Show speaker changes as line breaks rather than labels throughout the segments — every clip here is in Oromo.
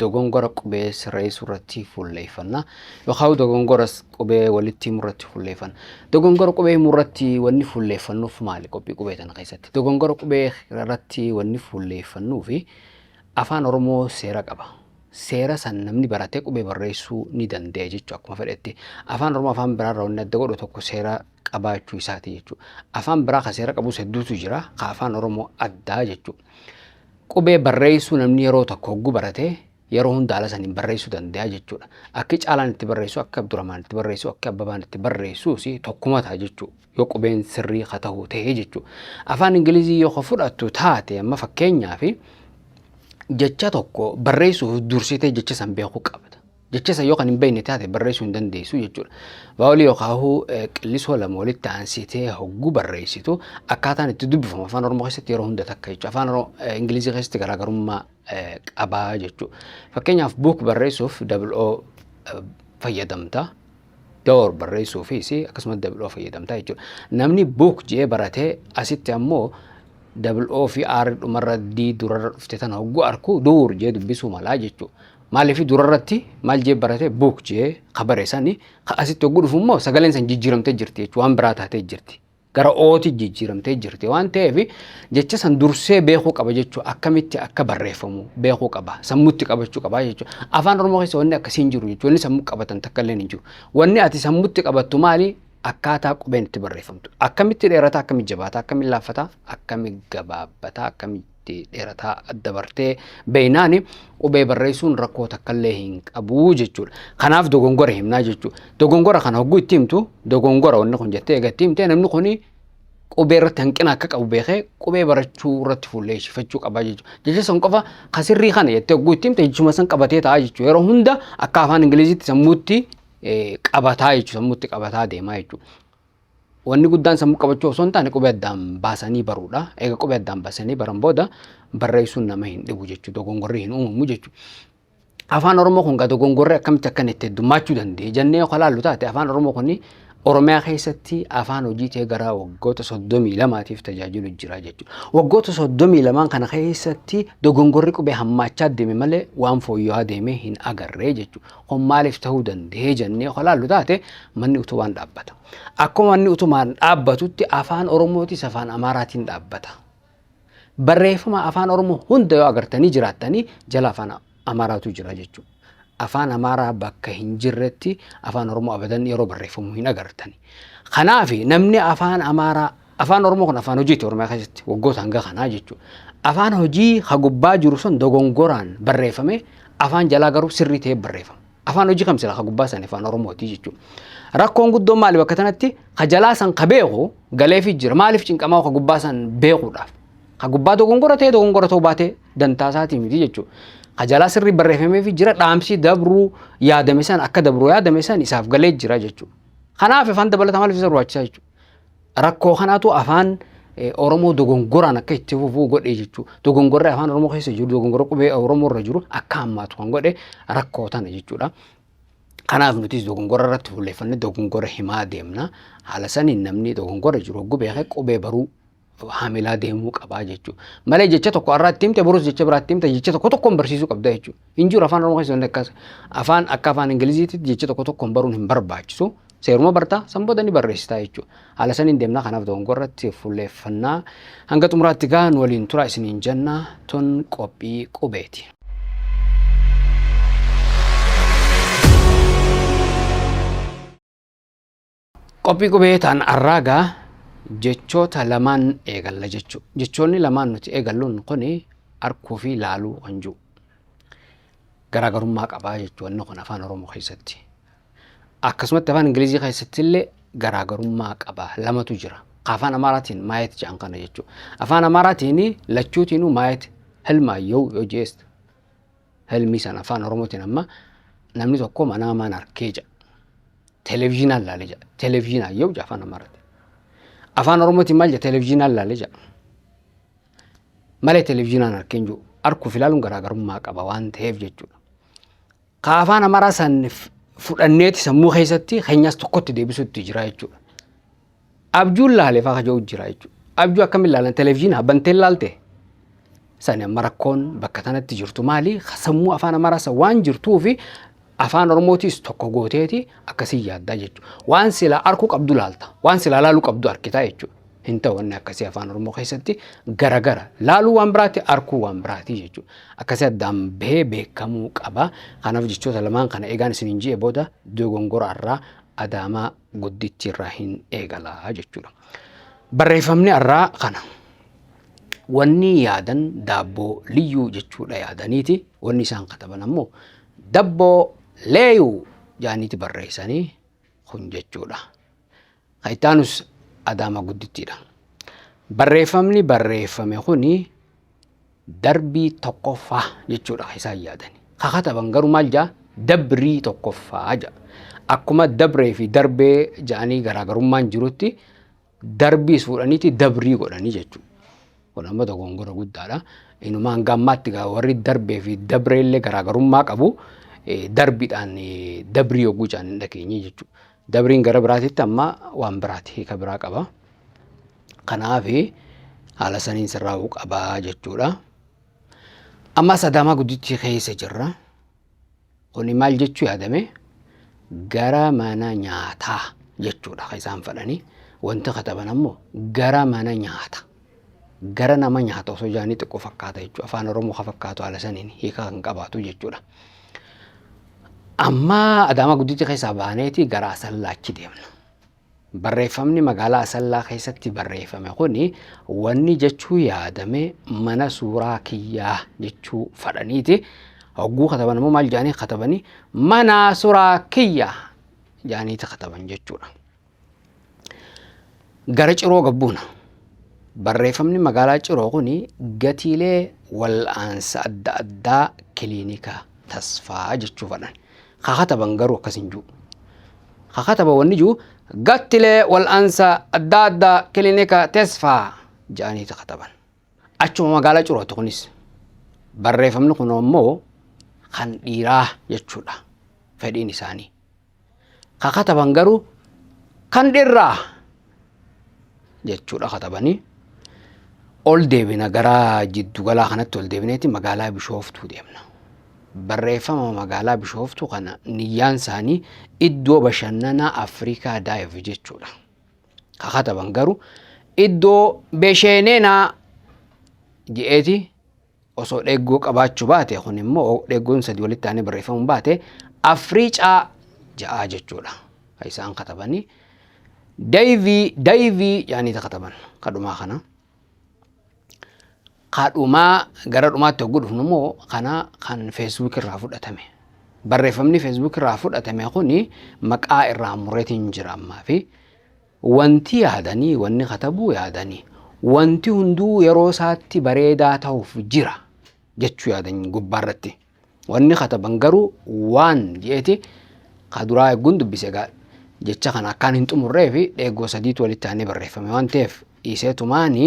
dogongora qubee sirreessuu irratti fuulleeffanna yookaan dogongora qubee walitti himuu irratti fuulleeffanna. Dogongora qubee himuu irratti wanni fuulleeffannuuf maali qophii qubee tana keessatti? Dogongora qubee irratti wanni fuulleeffannuu fi afaan Oromoo seera qaba. Seera san namni baratee qubee barreessuu ni danda'a jechuudha akkuma fedhetti. Afaan Oromoo afaan biraarraa wanni adda godhu tokko seera qabaachuu isaati jechuudha. Afaan biraa kan seera qabus hedduutu jira. Kan afaan Oromoo addaa jechuudha. Qubee barreessuu namni yeroo tokko hogguu barate yeroo hunda haala saniin barreessuu danda'a jechuudha. Akki caalaan itti barreessu, akki Abdurrahmaan itti barreessu, akki Abbabaan itti barreessuus tokkuma ta'a jechuudha. Yoo qubeen sirrii ka ta'u ta'e jechuudha. Afaan Ingilizii yoo ka fudhattu taate amma fakkeenyaaf jecha tokko barreessuuf dursitee jecha san beekuu qabda. Jecha san yoo kan hin beekne taate barreessuu hin dandeessu jechuudha. Vaawolii yookaahuu qillisoo lama walitti aansitee hogguu barreessitu akkaataan itti dubbifamu afaan Oromoo keessatti yeroo hunda takka jechuudha. Afaan Oromoo Ingilizii keessatti garaagarummaa qabaa jechuudha. Fakkeenyaaf buuk barreessuuf double o fayyadamta. Door barreessuufis akkasumas double o fayyadamta jechuudha. Namni buuk jee baratee asitti ammoo double o fi r dhumarra d durarra dhufte tana hogguu arku duur jee dubbisuu malaa jechuudha. Maaliif durarratti maal jee barate buuk jee ka bare sani ka asitti hogguu dhufu immoo sagaleen san jijjiiramtee jirti jechuudha waan biraa taatee jirti. Gara ooti jijjiiramtee jirti waan ta'eef jecha san dursee beekuu qaba jechuudha akkamitti akka barreeffamu beekuu qaba sammutti qabachuu qaba jechuudha. Afaan Oromoo keessa wanni akkasii hin jiru jechuudha wanni sammuu qabatan takka illee hin jiru. Wanni ati sammutti qabattu maali akkaataa qubeen itti barreeffamtu akkamitti dheerata akkamitti jabaata akkamitti laaffata akkamitti gabaabata akkamitti itti dheerataa adda bartee beeynaani qubee barreessuun rakkoo takkallee hin qabu jechuudha. Kanaaf dogongora himnaa jechuudha. Dogongora kana hogguu itti himtu dogongora wanni kun jettee egaa itti himtee namni kun qubee irratti hanqina akka qabu beekee qubee barachuu irratti fuulleessifachuu qaba jechuudha. Jecha san qofa ka sirrii kana jettee hogguu itti himte jechuma san qabatee ta'a jechuudha. Yeroo hunda akka afaan Ingiliziitti sammuutti qabataa jechuudha. Sammuutti qabataa deemaa jechuudha. Wanni guddaan sammuu qabachuu osoo hin taane qubee addaan baasanii baruudha. Egaa qubee addaan baasanii baran booda barreessuun nama hin dhibu jechuudha. Dogongorri hin uumamu jechuudha. Afaan Oromoo kun gaa dogongorri akkamitti akkan itti heddummaachuu danda'e jennee yoo kalaallu taate afaan Oromoo kun Oromiyaa keessatti afaan hojii ta'ee gara waggoota soddomii lamaatiif tajaajilu jira jechuudha. Waggoota soddomii lamaan kana keessatti dogongorri qubee hammaachaa deeme malee waan fooyya'aa deemee hin agarree jechuudha. Kun maaliif ta'uu danda'ee jennee kan ilaallu taate manni utubaan dhaabbata. Akkuma manni utubaan dhaabbatutti afaan Oromootis afaan Amaaraatiin dhaabbata. Barreeffama afaan Oromoo hunda yoo agartanii jiraattanii jala afaan Amaaraatu jira jechuudha. Afaan Amaaraa bakka hin jirretti afaan Oromoo abadan yeroo barreeffamu hin agartani. Kanaaf namni afaan Amaaraa Afaan Oromoo kun afaan hojiiti Oromiyaa keessatti waggoota hanga kanaa jechuudha. Afaan hojii ha gubbaa jiru sun dogongoraan barreeffame afaan jalaa garuu sirrii ta'ee barreeffama. Afaan hojii kam sila ha gubbaa san afaan Oromooti jechuudha. Rakkoon guddoon maali bakka tanatti ha jalaa san ka beeku galeefi jira maaliif cinqamaa ka gubbaa san beekuudhaaf. Ka gubbaa dogongora ta'ee dogongora ta'uu baatee dantaa isaatii miti jechuudha. Ka jalaa sirrii barreeffameefi jira dhaamsii dabruu yaadame san akka dabruu yaadame san isaaf galee jira jechuudha. Kanaaf afaan dabalataa maaliif isa barbaachisaa jechuudha. Rakkoo kanaatu afaan Oromoo dogongoraan akka itti fufuu godhe jechuudha. Dogongorri afaan Oromoo keessa jiru, dogongorri qubee Oromoo irra jiru akka hammaatu kan godhe rakkoo tana jechuudha. Kanaaf nutis dogongora irratti fuulleffannee dogongora himaa deemna. Haala saniin namni dogongora jiru hogguu beekee qubee baruu haamilaa deemuu qabaa jechuudha. Malee jecha tokko har'aa itti himte borus jecha biraa itti himte jecha tokko tokkoon barsiisuu qabda jechuudha. Hin jiru afaan Oromoo keessatti akkas afaan akka afaan Ingiliziitti jecha tokko tokkoon baruun hin barbaachisu. Seeruma bartaa san booda ni barreessitaa jechuudha. Haala saniin deemnaa kanaaf dogongorratti fuulleeffannaa hanga xumuraatti gaa nu waliin turaa isiniin jennaa tun qophii qubeeti. Qophii qubee ta'an arraagaa jechoota lamaan eegalla jechuu. Jechoonni lamaan nuti eegalluun kun arkuu fi laaluu kan jiru. Garaagarummaa qabaa jechoonni kun afaan Oromoo keessatti. Akkasumatti afaan Ingilizii keessatti illee garaagarummaa qaba lamatu jira. Afaan Amaaraatiin maayet jedhan kana jechuudha. Afaan Amaaraatiin lachuutiinuu maayet hilmaayyoo yoo jeesta. Helmii sana afaan Oromootiin amma namni tokko manaa maan arkee jedha. Televizyinaan laalee jedha. Televizyinaan yoo jedha afaan Amaaraatti. Afaan Oromootiin maal jedha televizyinaan laalee jedha. Malee televizyinaan arkee hin jiru. Arkuuf ilaaluun garaagarummaa qaba waan ta'eef jechuudha. Ka afaan Amaaraa san fudhanneeti sammuu keessatti keenyas tokkotti deebisuutti jira jechuudha. Abjuun laale faa kaja'u jira jechuudha. Abjuu akkamiin laalan televezyiina banteen laalte sani amma rakkoon bakka tanatti jirtu maali sammuu afaan amaraasa waan jirtuu fi afaan oromootiis tokko gooteeti akkasii yaaddaa jechuudha. Waan silaa arkuu qabdu laalta waan silaa laaluu qabdu arkitaa jechuudha. Hin ta'u wanni akkasii afaan oromoo keessatti garagara laaluu waan biraati arkuu waan biraati jechuudha. Akkasii addaan bahee beekamuu qaba. Kanaaf jechoota lamaan kana egaan isiniin ji'e booda dogongora irraa adaamaa guddichi irraa hin eegala jechuudha. Barreeffamni har'aa kana. Wanni yaadan daabboo liyyuu jechuudha yaadaniiti. Wanni isaan kataban ammoo dabboo leeyuu jaaniiti barreessanii kun jechuudha. Kan itti aanus adaama guddittiidha. Barreeffamni barreeffame kuni darbii tokkoffaa jechuudha kan isaan yaadani. Ka kataban garuu maal jaa dabrii tokkoffaa jaa. Akkuma dabree fi darbee jaanii garaagarummaan jirutti darbiis fuudhaniiti dabrii godhanii jechuudha. Kun amma dogongora guddaadha. Inuma hanga ammaatti gaa warri darbee fi dabree illee garaagarummaa qabu. Eh, Darbiidhaan eh, dabrii yogguu jaan hin dhageenye jechuudha. Dabriin gara biraatitti amma waan biraati hiika biraa qaba. Kanaaf haala saniin sirraa'uu qabaa jechuudha. Amma sadaamaa guddichi keessa jirra. Kuni maal jechuu yaadame gara mana nyaataa jechuudha kan isaan fedhanii. Wanti kataban ammoo gara mana nyaata. Gara nama nyaata osoo jedhanii xiqqoo fakkaata jechuudha. Afaan Oromoo kan fakkaatu haala saniin hiika kan qabaatu jechuudha. Amma adaamaa guddichi keessaa baaneeti gara asallaachi deemna. Barreeffamni magaalaa Asallaa keessatti barreeffame kuni wanni jechuu yaadame mana suuraa kiyyaa jechuu fadhaniiti. Hogguu kataban immoo maal jaanii katabanii mana suuraa kiyya jaaniiti kataban jechuudha. Gara ciroo gabbuuna. Barreeffamni magaalaa ciroo kuni gatiilee wal'aansa adda addaa kiliinika tasfaa jechuu fadhan. Ka kataban garuu akkas hin jiru. Ka kataban wanni jiru gattilee wal'aansa adda addaa kilinika Tesfaa jedhaniiti kataban. Achuma magaalaa Curooti kunis. Barreeffamni kun ammoo kan dhiiraa jechuudha fedhiin isaanii. Ka kataban garuu kan dhirraa jechuudha katabanii ol deebina gara jiddugalaa kanatti ol deebineeti magaalaa bishooftuu deemna. Barreeffama magaalaa bishooftuu kana niyyaan isaanii iddoo bashannanaa Afrikaa daayiv jechuudha. Ka kataban garuu iddoo besheeneenaa je'eeti osoo dheggoo qabaachuu baate kun immoo dheggoon sadi walitti aanee barreeffamuun baate afriicaa ja'aa jechuudha ka isaan katabanii dayvii dayvii ja'anii ta kataban kadhumaa kana kadhumaa gara dhumaatti hogguu dhufnu immoo kana kan feesbuuk irraa fudhatame barreeffamni feesbuuk irraa fudhatame kuni maqaa irraa mureetiin jira ammaa fi Wanti yaadanii, wanni katabuu yaadanii, wanti hunduu yeroo isaatti bareedaa ta'uuf jira jechuu yaadan gubbaa irratti. Wanni kataban garuu waan je'eeti ka duraa eegguun dubbise egaa jecha kana akkaan hin xumurree fi dheegoo sadiitu walitti aanee barreeffame waan ta'eef dhiisee tumaani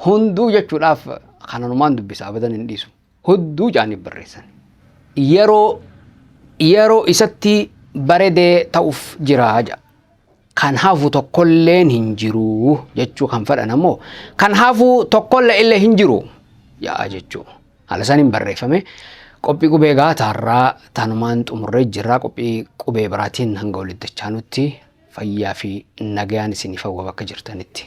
hunduu jechuudhaaf kananumaan dubbisa abadan hin dhiisu. hudduu jaaniif barreessan. Yeroo yeroo isatti baredee ta'uuf jira ja. Kan hafu tokkolleen hin jiru jechuu kan fedhan ammoo kan hafu tokkolle illee hin jiru ja'a jechuu. Haala saniin barreeffame qophii qubee egaa taarraa tanumaan xumurree jirraa qophii qubee biraatiin hanga walitti dachaanutti fayyaa fi nagayaan isiniif hawwa bakka jirtanitti.